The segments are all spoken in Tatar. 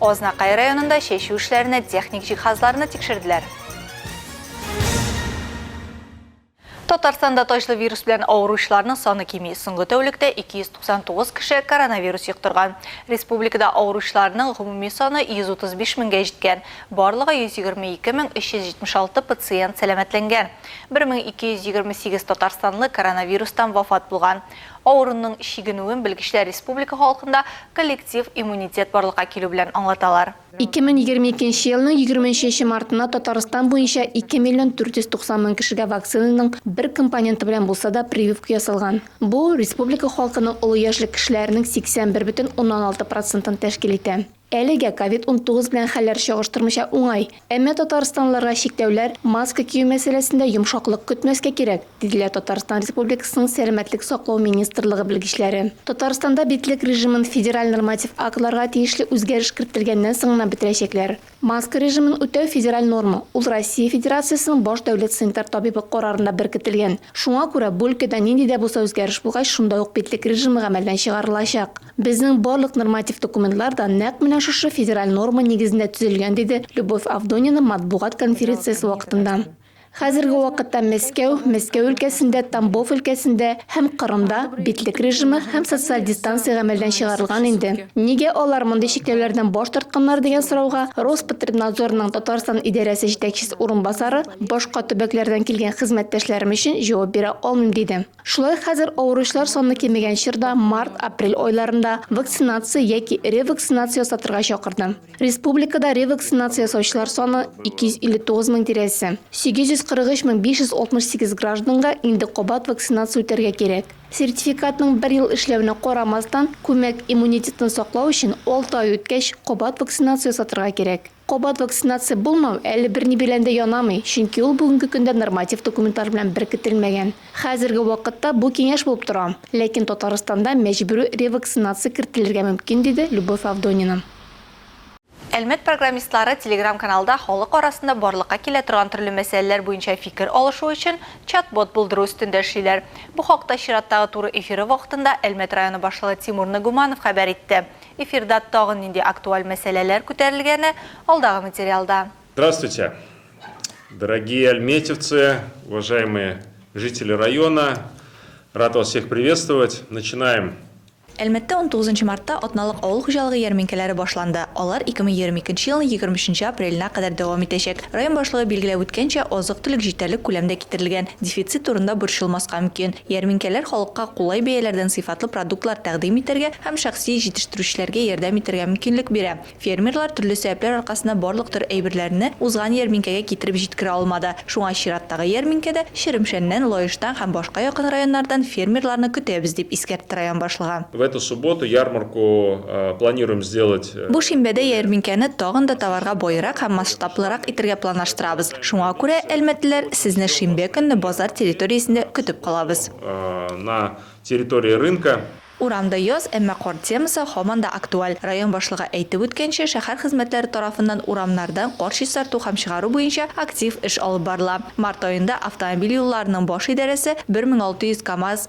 Азнакай районында чәчү эшләренә техник җиһазларны тикшерделәр. Татарстанда таҗлы вирус белән авыручыларның саны кими. Соңгы тәүлектә 299 кеше коронавирус йоктырган. Республикада авыручыларның гомуми саны 135 меңгә җиткән. Барлыгы 122 мең 376 пациент сәламәтләнгән. 1228 татарстанлы коронавирустан вафат булган. Авыруның чигенүен белгечләр республика халкында коллектив иммунитет барлыкка килү белән аңлаталар. 2022 елның 20 нче мартына Татарстан буенча 2 миллион 490 мең кешегә вакцинаның бер компоненты белән булса да прививка ясалган. Бу, республика халкының олы яшьлек кешеләренең 81,6 процентын тәшкил итә. Әлегә ковид-унтугыз белән хәлләр чагыштырмыча уңай. Әмма татарстанлыларга чикләүләр, маска кию мәсьәләсендә йомшаклык көтмәскә кирәк, диделәр Татарстан Республикасының Сәламәтлек саклау министрлыгы белгечләре. Татарстанда битлек режимын федераль норматив актларга тиешле үзгәреш керттелгәннән соң гына бетерәчәкләр. Маска режимын үтәү федераль норма, ул Россия Федерациясенең баш дәүләт санитар табибы карарында беркетелгән. Шуңа күрә бу өлкәдә нинди дә булса үзгәреш булгач, шунда ук битлек режимы гамәлдән чыгарылачак. Безнең барлык норматив документлар да нәкъ менә шушы федераль норма нигезендә төзелгән, диде Любовь Авдонина матбугат конференциясе вакытында. Хәзерге вакытта Мәскәү, Мәскәү өлкәсендә, Тамбов өлкәсендә һәм Кырымда битлек режимы һәм социаль дистанция гамәлдән чыгарылган инде. Нигә алар мондый чикләүләрдән баш тартканнар дигән сорауга Роспотребнадзорның Татарстан идарәсе җитәкчесе урынбасары башка төбәкләрдән килгән хезмәттәшләрем өчен җавап бирә алмыйм, диде. Шулай ук хәзер авыручылар саны кимегән чорда март-апрель айларында вакцинация яки ревакцинация ясатырга чакырды. Республикада ревакцинация ясаучылар саны 259 мең тирәсе. 843 мең 568 гражданга инде кабат вакцинация үтәргә кирәк. Сертификатның бер ел эшләвенә карамастан, күмәк иммунитетны саклау өчен алты ай үткәч кабат вакцинация ясатырга кирәк. Кабат вакцинация булмау әле берни белән дә янамый, чөнки ул бүгенге көндә норматив документлар белән беркетелмәгән. Хәзерге вакытта бу киңәш булып тора, ләкин Татарстанда мәҗбүри ревакцинация кертелергә мөмкин, диде Любовь Авдонина. Әлмәт программистлары Телеграм-каналда халык арасында барлыкка килә торган төрле мәсьәләләр буенча фикер алышу өчен чат-бот булдыру өстендә эшлиләр. Бу хакта чираттагы туры эфиры вакытында Әлмәт районы башлыгы Тимур Нагуманов хәбәр итте. Эфирда тагын нинди актуаль мәсьәләләр күтәрелгәне, алдагы материалда. Здравствуйте! Дорогие альметьевцы, уважаемые жители района, рад вас всех приветствовать! Начинаем! Әлмәттә унтугызынчы мартта атналык авыл хуҗалыгы ярминкәләре башланды, алар ике мең егерме икенче елның егерме өченче апреленә кадәр дәвам итәчәк. Район башлыгы билгеләп үткәнчә, азык-төлек җитәрлек күләмдә китерелгән, дефицит турында борчылмаска мөмкин. Ярминкәләр халыкка кулай бәяләрдән сыйфатлы продуктлар тәкъдим итәргә һәм шәхси җитештерүчеләргә ярдәм итәргә мөмкинлек бирә. Фермерлар төрле сәбәпләр аркасында барлык төр әйберләрне узган ярминкәгә китереп җиткерә алмады, шуңа чираттагы ярминкәдә Черемшәннән, Лаештан һәм башка якын районнардан фермерларны көтәбез, дип искәртте район башлыгы. В эту субботу ярмарку планируем сделать Бу шимбәдә ярминкәне тагын да товарга баерак һәм масштаблырак итергә планлаштырабыз. Шуңа күрә, әлмәтлеләр, сезне шимбә көнне базар территориясендә көтеп калабыз. На территории рынка. Урамда яз, әмма кар темасы һаман да актуаль. Район башлыгы әйтеп үткәнчә, шәһәр хезмәтләре тарафыннан урамнардан кар чистарту һәм чыгару буенча актив эш алып барыла. Март аенда автомобиль юлларының баш идарәсе 1600 КАМАЗ,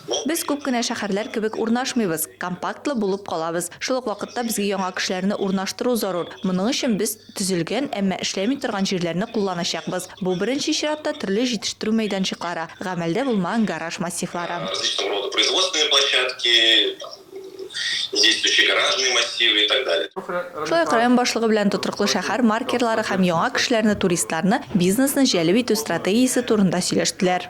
Без күп кенә шәхәрләр кебек урнашмыйбыз, компактлы булып калабыз. Шул ук вакытта безгә яңа кешеләрне урнаштыру зарур. Моның өчен без төзелгән, әмма эшләми торган җирләрне кулланачакбыз. Бу, беренче чиратта, төрле җитештерү мәйданчыклары, гамәлдә булмаган гараж массивлары. Различного рода производственные площадки, действующие гаражные массивы и так далее. Шулай ук район башлыгы белән тотрыклы шәхәр маркерлары һәм яңа кешеләрне, туристларны, бизнесны җәлеп итү стратегиясе турында сөйләштеләр.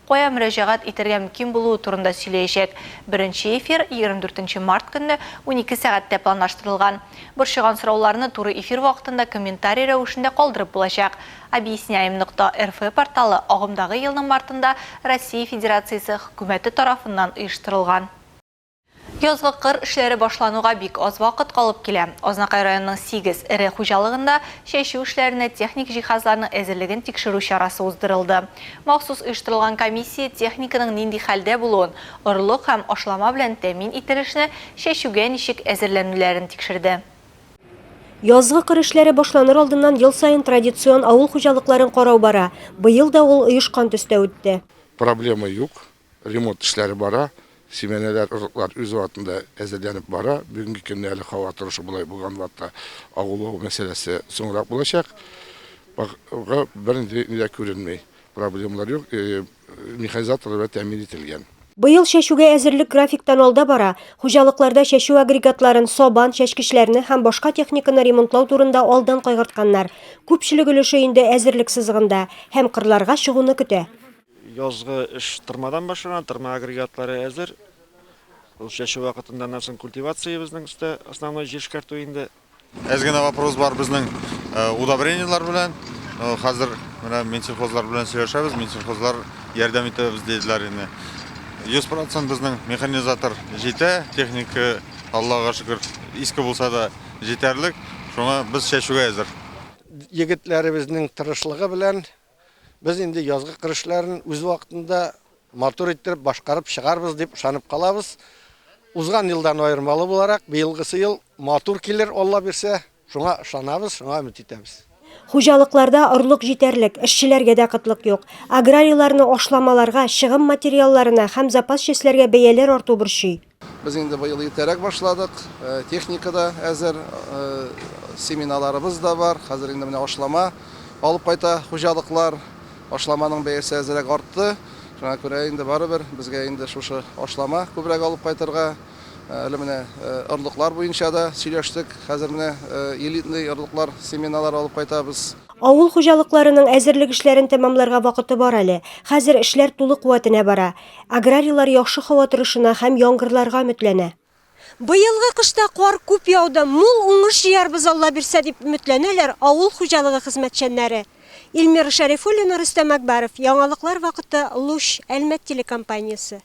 кая мөрәҗәгать итәргә мөмкин булуы турында сөйләячәк. Беренче эфир егерме дүртенче март көнне унике сәгатьтә планлаштырылган. Борчыган сорауларны туры эфир вакытында комментарий рәвешендә калдырып булачак. Объясняем нокта рф порталы агымдагы елның мартында Россия Федерациясе Хөкүмәте тарафыннан оештырылган. Язгы кыр эшләре башлануга бик аз вакыт калып килә. Азнакай районының сигез эре хуҗалыгында чәчү эшләренә техник җиһазларның әзерлеген тикшерү чарасы уздырылды. Махсус оештырылган комиссия техниканың нинди хәлдә булуын, орлык һәм ашлама белән тәэмин ителешне чәчүгә ничек әзерләнүләрен тикшерде. Язгы кыр эшләре башланыр алдыннан ел саен традицион авыл хуҗалыкларын карау бара. Быел да ул оешкан төстә үтте. Проблема юк, Ремонт эшләре бара. Симәнәләр, орлыклар үз вакытында әзерләнеп бара. Бүгенге көнне әле һава торышы болай булган вакытта агулау мәсьәләсе соңрак булачак. Бакырга бернинди дә күренми. Проблемалар юк. Механизаторлар белән тәэмин ителгән. Быел чәчүгә әзерлек графиктан алда бара. Хуҗалыкларда чәчү агрегатларын, сабан, чәчкечләрне һәм башка техниканы ремонтлау турында алдан кайгыртканнар. Күпчелек өлеше инде әзерлек сызыгында һәм кырларга чыгуны көтә. Язгы эш тырмадан башлана, тырма агрегатлары әзер. Ул чәчү вакытында, аннан соң культивация безнең өстә, основной җир эшкәртү инде. Әз генә вопрос бар безнең э, удобрениелар белән. Э, хәзер менә Минсельхозлар белән сөйләшәбез, Минсельхозлар ярдәм итәбез диделәр инде. 100% безнең механизатор җитә, техника Аллага шөкер, иске булса да җитәрлек. Шуңа без чәчүгә әзер. Егетләребезнең тырышлыгы белән Без инде язгы кыр эшләрен үз вакытында матур иттереп башкарып чыгарбыз дип ышанып калабыз. Узган елдан аермалы буларак, быелгысы ел матур килер, Алла бирсә. Шуңа ышанабыз, шуңа өмет итәбез. Хуҗалыкларда орлык җитәрлек, эшчеләргә дә кытлык юк. Аграрийларны ашламаларга, чыгым материалларына һәм запас частьләргә бәяләр арту борчый. Без инде быел иртәрәк башладык, техника да әзер, семеналарыбыз да бар, хәзер инде менә ашлама алып кайта хуҗалыклар, ашламаның бәясе әзерәк артты, шуңа күрә инде барыбер безгә инде шушы ашлама күбрәк алып кайтырга, әле менә орлыклар буенча да сөйләштек, хәзер менә элитный орлыклар, семеналар алып кайтабыз. Авыл хуҗалыкларының әзерлек эшләрен тәмамларга вакыты бар әле, хәзер эшләр тулы куәтенә бара. Аграрийлар яхшы һава торышына һәм яңгырларга өметләнә. Быелгы кышта кар күп яуды, мул уңыш җыярбыз, Алла бирсә, дип өметләнәләр авыл хуҗалыгы хезмәтчәннәре. Илмира Шәрифуллина, Рөстәм Әкбаров, Яңалыклар вакыты, Луч, Әлмәт телекомпаниясе.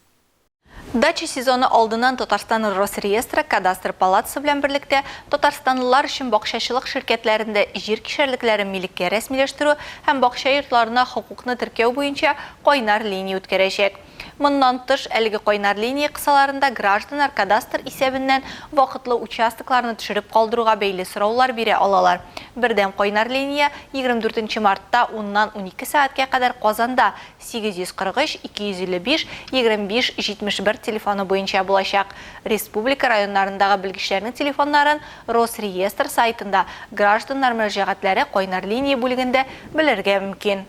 Дача сезоны алдыннан Татарстан Росреестры, Кадастр палатасы белән берлектә татарстанлылар өчен бакчачылык ширкәтләрендә җир кишәрлекләрен милеккә рәсмиләштерү һәм бакча йортларына хокукны теркәү буенча кайнар линия үткәрәчәк. Моннан тыш, әлеге кайнар линия кысаларында гражданнар кадастр исәбеннән вакытлы участокларны төшереп калдыруга бәйле сораулар бирә алалар. Бердәм кайнар линия 24 нче мартта уннан унике сәгатькә кадәр Казанда 843 255 25 71 телефоны буенча булачак. Республика районнарындагы белгечләрнең телефоннарын Росреестр сайтында, гражданнар мөрәҗәгатьләре кайнар линия бүлегендә белергә мөмкин.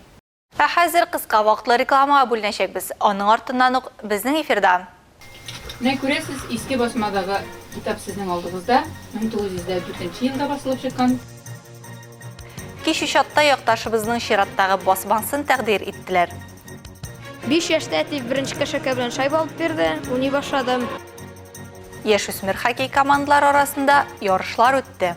Ә хәзер кыска вакытлы рекламага бүленәчәкбез, аның артыннан ук безнең эфирда. Менә күрәсез, Иске Басмадагы китап сезнең алдыгызда, 1904 нче елда басылып чыккан. Кичү чакта якташыбызның чираттагы басмасын тәкъдир иттеләр. Биш яшьтә әти беренче кәшәкә белән шайба алып бирде, уйный башладым. Яшүсмер хоккей командалары арасында ярышлар үтте.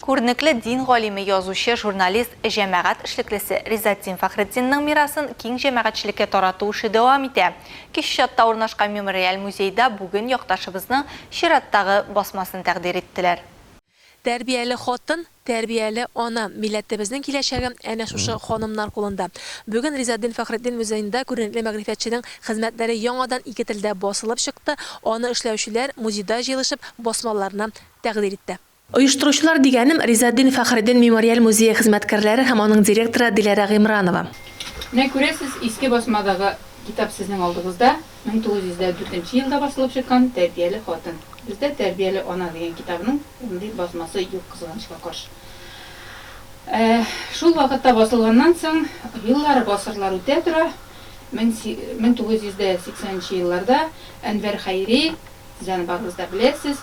Күренекле дин галиме, язучы, журналист, җәмәгать эшлеклесе Ризатдин Фәхретдинның мирасын киң җәмәгатьчелеккә тарату эше дәвам итә. Кече Чатта урнашкан Мемориаль музейда бүген якташыбызның чираттагы басмасын тәкъдир иттеләр. Тәрбияле хатын, тәрбияле ана, милләтебезнең киләчәге әнә шушы ханымнар кулында. Бүген Ризатдин Фәхретдин музеенда күренекле мәгърифәтченең хезмәтләре яңадан ике телдә басылып чыкты, аны эшләүчеләр музейда җыелышып басмаларны тәкъдир итте. Оештыручылар дигәнем, Ризатдин Фәхреддин мемориаль музее хезмәткәрләре һәм аның директоры Диләрә Гыймранова. Менә күрәсез, иске басмадагы китап сезнең алдыгызда, 1904 нче елда басылып чыккан Тәрбияле хатын. Бездә Тәрбияле ана дигән китабының мондый басмасы юк, кызганычка каршы. Ә шул вакытта басылганнан соң, еллар, гасырлар үтә тора, 1980 нче елларда Әнвәр Хәйри, сез аны барыгыз да беләсез,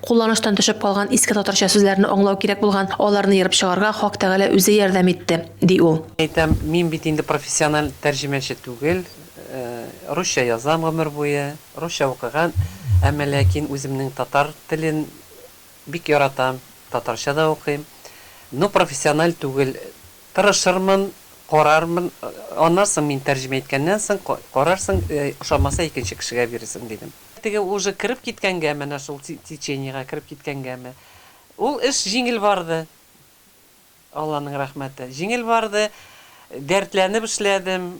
Кулланыштан төшеп калган иске татарча сүзләрне аңлау кирәк булган, аларны ерып чыгарга Хак Тәгалә үзе ярдәм итте, ди ул. Әйтәм, мин бит инде профессиональ тәрҗемәче түгел, русча язам гомер буе, русча укыган, әмма ләкин үземнең татар телен бик яратам, татарча да укыйм, но профессиональ түгел, тырышырмын, карармын, аннан соң мин тәрҗемә иткәннән соң карарсың, ошамаса икенче кешегә бирерсең, дидем. Теге уже кереп киткәнгә, менә шул течениегә кереп киткәнгәме, ул эш җиңел барды. Алланың рәхмәте. Җиңел барды. Дәртләнеп эшләдем.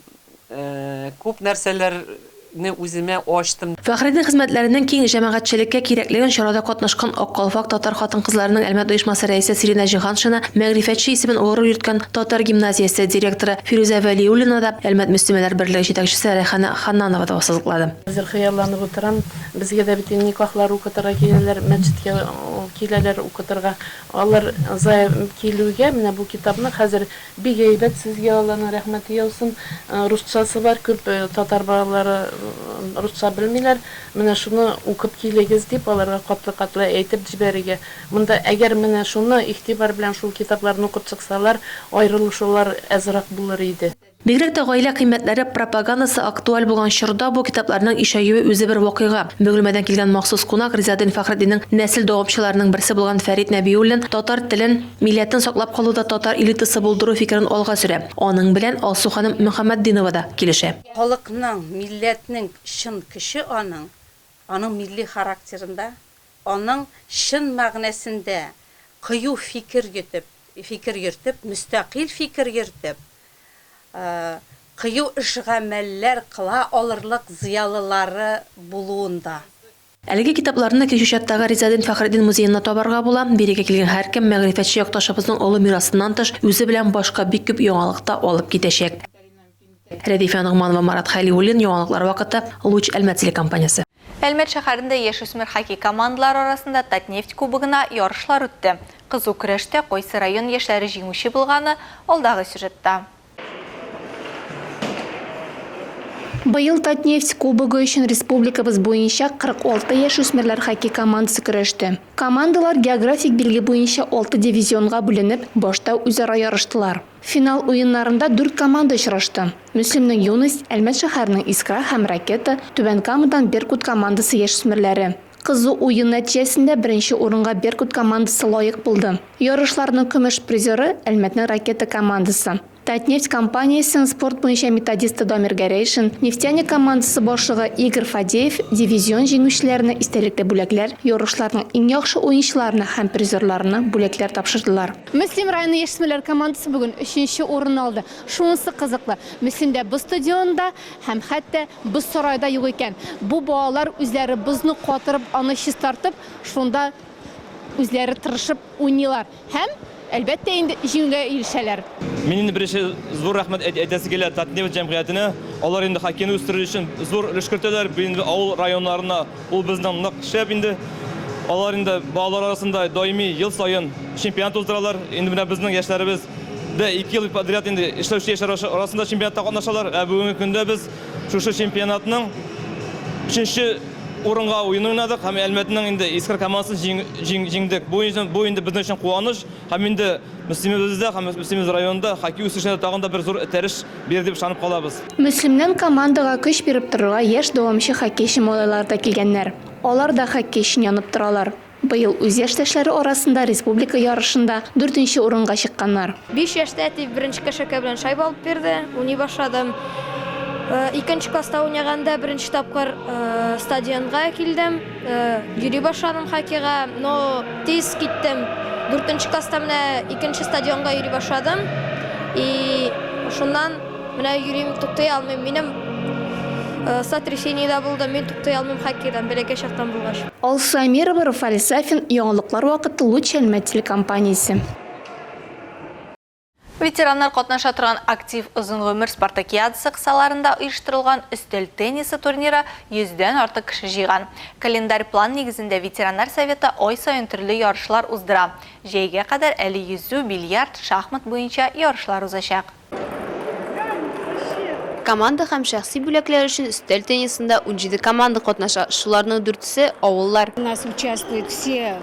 Күп нәрсәләрне үземә ачтым. Фәхреддин хезмәтләренең киң җәмәгатьчелеккә кирәклеген чарада катнашкан Ак калфак татар хатын-кызларының Әлмәт оешмасы рәисе Сиринә Җиһаншина, мәгърифәтче исемен горур йөрткән Татар гимназиясе директоры Фирүзә Вәлиуллина да, Әлмәт мөслимәләр берлеге җитәкчесе Рәйхана Ханнанова да ассызыклады. Хәзер хыялланып утырам, безгә дә бит никахлар укытырга киләләр, мәчеткә киләләр укытырга. Алар зая килүгә, менә бу китапны хәзер бик әйбәт, сезгә Алланың рәхмәте яусын. Русчасы бар, күп татар балалары русча белмиләр. Менә шуны укып килегез дип, аларга катлы-катлы әйтеп җибәрергә. Монда әгәр менә шуны игътибар белән шул китапларны укып чыксалар, аерылышулар азрак булыр иде. Бигрәк тә гаилә кыйммәтләре пропаганасы актуаль булган чорда бу китапларның ишәюе үзе бер вакыйга. Бөгелмәдән килгән махсус кунак Ризаэддин Фәхретдиннең нәсел дәвамчыларының берсе булган Фәрит Нәбиуллин татар телен, милләтен саклап калуда татар элитасы булдыру фикерен алга сөрә. Аның белән Алсу ханым Мөхәммәтдинова да килешә. Халыкның, милләтнең чын көче аның, аның милли характерында, аның чын мәгънәсендә кыю фикер йөтеп, фикер йөртеп, мөстәкыйль фикер йөртеп, кыю эш-гамәлләр кыла алырлык зыялылары булуында. Әлеге китапларны Кече Чаттагы Ризаэддин Фәхретдин музеенда табарга була. Бирегә килгән һәркем мәгърифәтче якташыбызның олы мирасыннан тыш, үзе белән башка бик күп яңалык та алып китәчәк. Рәдифә Ногманова, Марат Хәлиуллин, Яңалыклар вакыты, Луч, Әлмәт телекомпаниясе. Әлмәт шәһәрендә яшүсмер хоккей командалары арасында Татнефть кубогына ярышлар үтте. Кызу көрәштә кайсы район яшьләре җиңүче булганы, алдагы сюжетта. Быел Татнефть кубогы өчен республикабыз буенча 46 яшүсмерләр хоккей командасы көрәште. Командалар географик билге буенча алты дивизионга бүленеп, башта үзара ярыштылар. Финал уеннарында дүрт команда очрашты. Мөслимнең Юность, Әлмәт шәһәренең Искра һәм Ракета, Түбән Камадан Беркут командасы яшьсмерләре. Кызу уен нәтиҗәсендә беренче урынга Беркут командасы лаек булды. Ярышларның көмеш призеры, Әлмәтнең Ракета командасы. Татнефть компаниясенең спорт буенча методисты Дамир Гәрәйшин, Нефтяник командасы башлыгы Игорь Фадеев дивизион җиңүчеләренә истәлекле бүләкләр, ярышларның иң яхшы уенчыларына һәм призерларына бүләкләр тапшырдылар. Мөслим районы яшьсмерләр командасы бүген өченче урынны алды. Шунысы кызыклы, Мөслимдә боз стадионы да һәм хәтта боз сарае да юк икән. Бу балалар үзләре бозны катырып, аны чистартып, шунда үзләре тырышып уйныйлар һәм, әлбәттә инде, җиңүгә ирешәләр. Мин инде беренче зур рәхмәт әйтәсе килә Татнефть җәмгыятенә. Алар инде хоккейны үстерү өчен зур өлеш кертәләр. Бу инде авыл районнарына Ул безнең нык шәп инде. Алар инде балалар арасында даими ел саен чемпионат уздыралар. Инде менә безнең яшьләребез дә ике ел подряд инде эшләүче яшьләр арасында чемпионатта катнашалар. Ә бүгенге көндә без шушы чемпионатның өченче урынга уен уйнадык һәм Әлмәтнең инде Искра командасын җиңдек. Бу инде безнең өчен куаныч. Һәм инде Мөслимебездә һәм Мөслимебез районында хоккей үсешенә дә тагын да бер зур этәреш бирер дип ышанып калабыз. Мөслимнән командага көч биреп торырга яшь дәвамчы хоккейчы малайлар да килгәннәр. Алар да хоккей өчен янып торалар. Быел үз яшьтәшләре арасында республика ярышында дүртенче урынга чыкканнар. Биш яшьтә әти беренче кәшәкә белән шайба алып бирде, уйный башладым. Икенче класста уйнаганда беренче тапкыр стадионга килдем. Йөри башладым хоккейга, но тиз киттем. Дүртенче класста менә икенче стадионга йөри башладым. И шуннан менә йөрим, туктый алмыйм. Минем сотрясение дә булды, мин туктый алмыйм хоккейдан, бәләкәй чактан булгач. Алсу Әмирова, Руфаль Сафин, Яңалыклар вакыты Луч Әлмәт телекомпаниясе. Ветераннар катнаша торган актив озын гомер спартакиадасы кысаларында оештырылган өстәл теннисы турниры 100 дән артык кеше җыйган. Календарь план нигезендә ветераннар советы ай саен төрле ярышлар уздыра. Җәйгә кадәр әле йөзү, бильярд, шахмат буенча ярышлар узачак. Команда һәм шәхси бүләкләр өчен өстәл теннисында унҗиде команда катнаша, шуларның дүртесе, авыллар. У нас участвуют все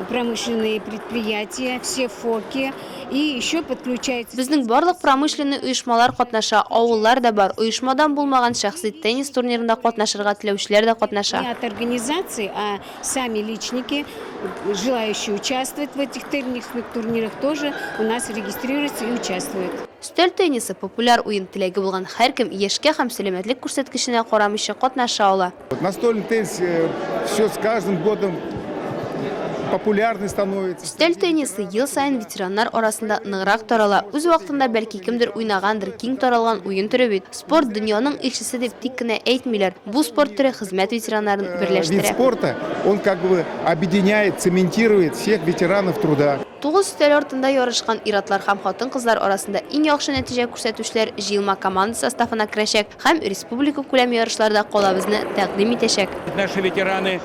промышленные предприятия, все ФОКи. Безнең барлык промышленный оешмалар катнаша, авыллар да бар, оешмадан булмаган шәхси теннис турнирында катнашырга теләүчеләр дә катнаша. Өстәл теннисы, популяр уен, теләге булган һәркем, яшькә һәм сәламәтлек күрсәткеченә карамыйча, катнаша ала. Настольный теннис э, все с каждым годом популярный становится. Өстәл теннисы ел сайын ветераннар арасында ныграк тарала. Үз вакытында бәлки кемдер уйнагандыр, киң таралган уен төре бит. Спорт дөньяның илчесе дип тик кенә әйтмиләр. Бу спорт төре хезмәт ветераннарын э, берләштерә. Вид спорта, он как бы объединяет, цементирует всех ветеранов труда. Тугыз өстәл артында ярышкан иратлар һәм хатын-кызлар арасында иң яхшы нәтиҗә күрсәтүчеләр җыелма команда составына керәчәк. Һәм республикакүләм ярышларда калабызны тәкъдим итәчәк. Наши ветераны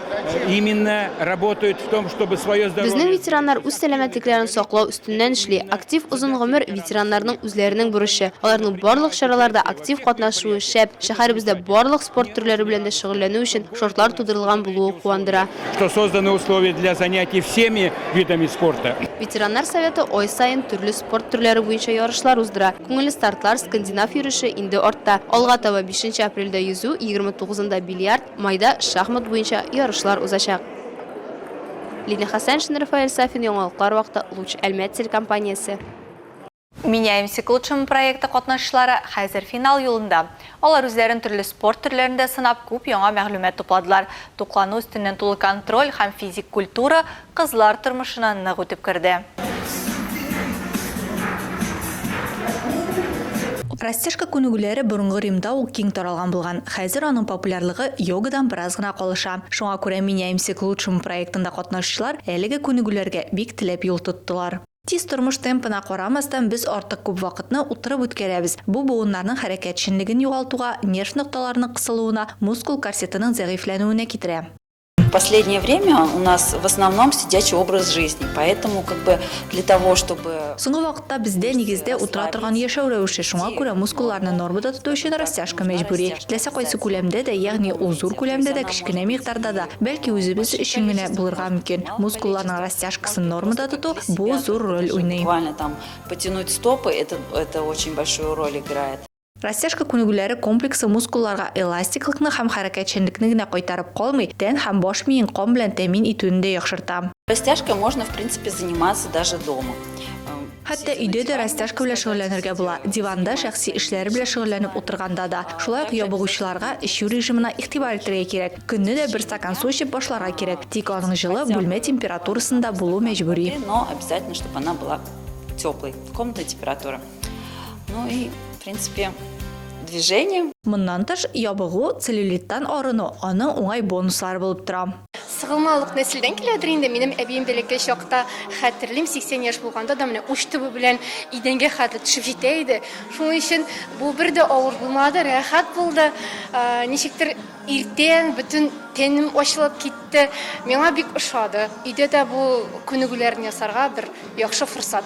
именно работают в том, чтобы свое здоровье. Безнең ветераннар үз сәламәтлекләрен саклау өстеннән эшли. Актив озын гомер, ветераннарның үзләренең бурычы. Аларның барлык чараларда актив катнашуы шәп. Шәһәребездә барлык спорт төрләре белән дә шөгыльләнү өчен шартлар тудырылган булуы куандыра. Что созданы условия для занятий всеми видами спорта. Ветераннар советы ай саен төрле. спорт төрләре буенча ярышлар уздыра. Күңелле стартлар, скандинав йөреше инде артта. Алга таба бишенче апрельдә йөзү, егерме тугызында бильярд, майда шахмат буенча ярышлар узачак. Лилия Хәсәншина, Рафаэль Сафин, Яңалыклар вакыты, Луч Әлмәт телекомпаниясе. Меняемся к лучшему проекты катнашчылары хәзер финал юлында. Алар үзләрен төрле спорт төрләрендә сынап, күп яңа мәгълүмат тупладылар. Туклану, өстеннән тулы контроль һәм физик культура, Кызлар тормышына нык үтеп керде. Растяжка күнегүләре борынгы Римда ук киң таралган булган. Хәзер аның популярлыгы йогадан бераз гына калыша. Шуңа күрә Меняемся к лучшему проектында катнашучылар әлеге күнегүләргә бик теләп юл тоттылар. Тиз тормыш темпына карамастан, без артык күп вакытны утырып үткәрәбез. Бу буыннарның хәрәкәтчәнлеген югалтуга, нерв нокталарының кысылуына, мускул корсетының зәгыйфьләнүенә китерә. В последнее время у нас в основном сидячий образ жизни, поэтому как бы для того, чтобы... Соңгы вакытта бездә нигездә утыра торган яшәү рәвеше, шуңа күрә мускулларны нормада тоту өчен растяжка мәҗбүри. Теләсә кайсы күләмдә дә, ягъни ул зур күләмдә дә, кечкенә микъдарда да, бәлки үзебез өчен генә булырга мөмкин. Мускулларның растяжкасын нормада тоту бу зур роль уйный. Буквально там потянуть стопы, это, это очень большую роль играет. Растяжка күнегүләре комплексы мускулларга эластиклыкны һәм хәрәкәтчәнлекне генә кайтарып калмый, тән һәм баш миен кан белән тәэмин итүне дә яхшырта. Растяжкой можно в принципе заниматься даже дома. Хәтта өйдә дә растяжка белән шөгыльләнергә була, диванда шәхси эшләр белән шөгыльләнеп утырганда да. Шулай ук ябыгучыларга эчү режимына игътибар итәргә кирәк. Көнне дә бер стакан су эчеп башларга кирәк, тик аның җылы, бүлмә температурасында булу мәҗбүри. Но обязательно, чтобы она была теплой, комнатная температура. Ну и, в принципе, движение. Моннан тыш, ябыгу, целлюлиттан арыну, аның уңай бонуслары булып тора. Сыгылмалык нәселдән киләдер инде. Минем әбием бәләкәй чакта хәтерлим, 80 яшь булганда да менә уч төбе белән идәнгә хәтле төшеп җитә иде. Шуның өчен бу бер дә авыр булмады, рәхәт булды. Ничектер иртән бөтен тәнем ачылып китте. Миңа бик ошады. Өйдә дә бу күнегүләрне ясарга бер яхшы форсат.